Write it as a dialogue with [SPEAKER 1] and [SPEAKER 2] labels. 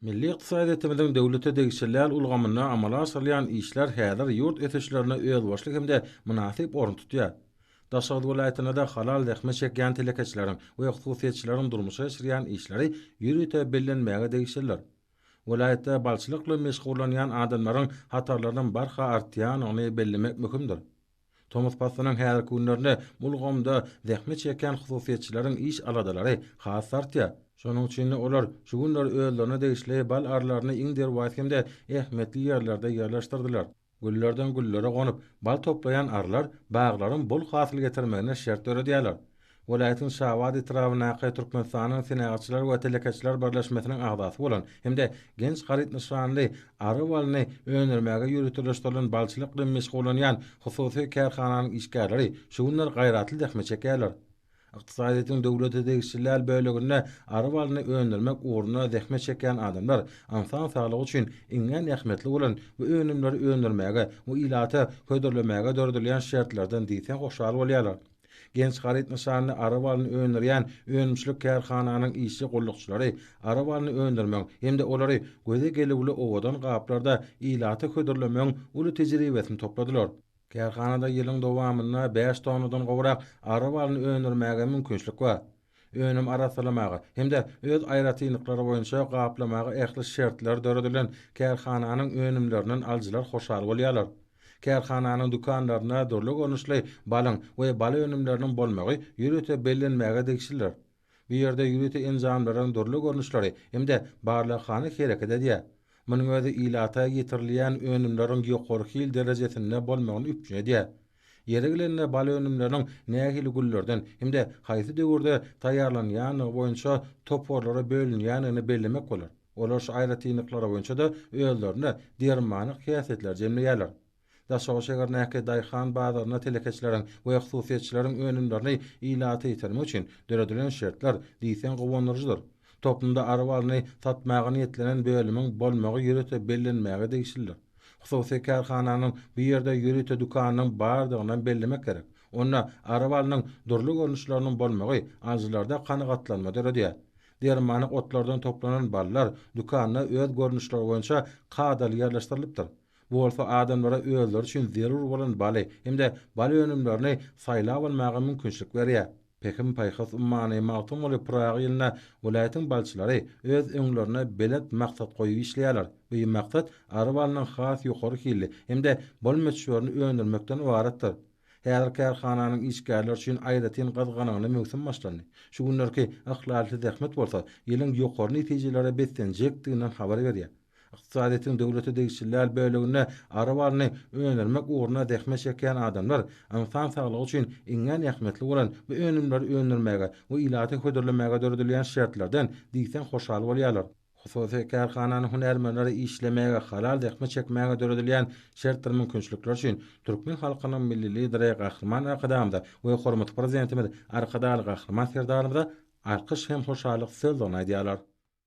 [SPEAKER 1] Milli ykdysadyýetimiziň döwlete degişilýän ulgamynda amala aşyrylýan işler häzir ýurt ösüşlerinde özboluşly hem-de mynasyp orun tutýar. Daşoguz welaýatynda-da halal zähmet çekýän telekeçileriň we hususyýetçileriň durmuşa geçirýän işleri ýörite bellenmäge degişlidir. Welaýatda balçylyk bilen meşgullanýan adamlaryň hatarlarynyň barha artýanyny bellemek möhümdir. Tomus paslynyň häzirki günlerinde bu ulgamda zähmet çekýän hususyýetçileriň iş aladalary has artýar. Şonuň üçin-de olar şu günler özlerine degişli bal arlaryny iň derwaýys hem-de ähmiýetli ýerlerde ýerleşdirdiler. Güllerden güllere gonup, bal toplaýan arlar baglaryň bol hasyl getirmegine şert döredýärler. welaýatyň Şabat etrabyndaky Türkmenistanyň Senagatçylar we telekeçiler birleşmesiniň agzasy bolan hem-de genç haryt nyşanly ary balyny öndürmäge ýöriteleşdirilen balçylyk bilen meşgullanýan hususy kärhananyň işgärleri şu günler gaýratly zähmet çekýärler. Ykdysadyýetiň döwlete degişli däl böleginde ary balyny öndürmek ugrunda zähmet çekýän adamlar ynsan saglygy üçin iňňän ähmiýetli bolan bu önümleri öndürmäge we ilata hödürlemäge döredilýän şertlerden diýseň hoşal bolýarlar. Genç haryt nyşanly ara balyny öndürýän önümçilik kärhananyň işçi gullukçylary ara balyny öndürmegiň hem-de olary göze gelüwli owadan gaplarda ilata hödürlemegiň uly tejribesini topladylar. Kärhanada ýylyň dowamynda bäş tonnadan gowrak ara balyny öndürmäge mümkinçilik bar. önüm arassalamaga hem-de öz aýratynlyklary boýunça gaplamaga ähli şertler döredilen kärhananyň önümlerinden alyjylar hoşal bolýarlar. Kärhananyň dükanlarynda dürli görnüşli balyň we bal önümleriniň bolmagy ýörite bellenmäge degişlidir. Bu ýerde ýörite enjamlaryň dürli görnüşleri hem-de barlaghana hereket edýär. Munuň özi ilata ýetirilýän önümleriň ýokary hil derejesinde bolmagyny üpjün edýär. Ýeri gelende bal önümleriniň nähili güllerden hem-de haýsy döwürde taýýarlanýandygy boýunça toparlara bölünýändigini bellemek bolar. Olar şu aýratynlyklary boýunça-da özlerinde dermanlyk häsiýetleri jemleýärler. Daşoguz şäherindäki daýhan bazarynda telekeçileriň we hususyýetçileriň önümlerini ilata ýetirmek üçin döredilen şertler diýseň guwandyryjydyr. Toplumda ary balyny satmaga niýetlenen bölümiň bolmagy ýörite bellenmäge degişlidir. Hususy kärhananyň bu ýerde ýörite dükanynyň bardygynam bellemek gerek. Onda arabalynyň dürli görnüşleriniň bolmagy alyjylarda kanagatlanma döredýär. Dermanlyk otlardan toplanan ballar dükanda öz görnüşleri boýunça kadaly ýerleşdirilypdir. Bu bolsa adamlara özleri üçin zerur bolan baly hem-de bal önümlerini saýlap almaga mümkinçilik berýär. Pähim-paýhas ummany Magtymguly Pyragy ýylynda welaýatyň balçylary öz öňlerine belent maksat goýup işleýärler. Öý maksat ary balynyň has ýokary hilli hem-de bol möçberini öndürmekden ybaratdyr. Häzir kärhananyň işgärleri üçin aýratyn gyzgalaňly möwsüm başlandy. Şu günlerki yhlasly zähmet bolsa ýylyň ýokary netijelere beslenjekdiginden habar berýär. Ykdysadyýetiň döwlete degişli däl böleginde ary balyny öndürmek ugrunda zähmet çekýän adamlar ynsan saglygy üçin iňňän ähmiýetli bolan bu önümleri öndürmäge we ilaty hödürlemäge döredilýän şertlerden diýseň hoşal bolýarlar. Hususy kärhananyň hünärmenleri işlemäge, halal zähmet çekmäge döredilýän şertdir mümkinçilikler üçin türkmen halkynyň Milli Lideri Gahryman Arkadagymyza we hormatly Prezidentimiz Arkadagly Gahryman Serdarymyza alkyş hem hoşallyk sözlerini aýdýarlar.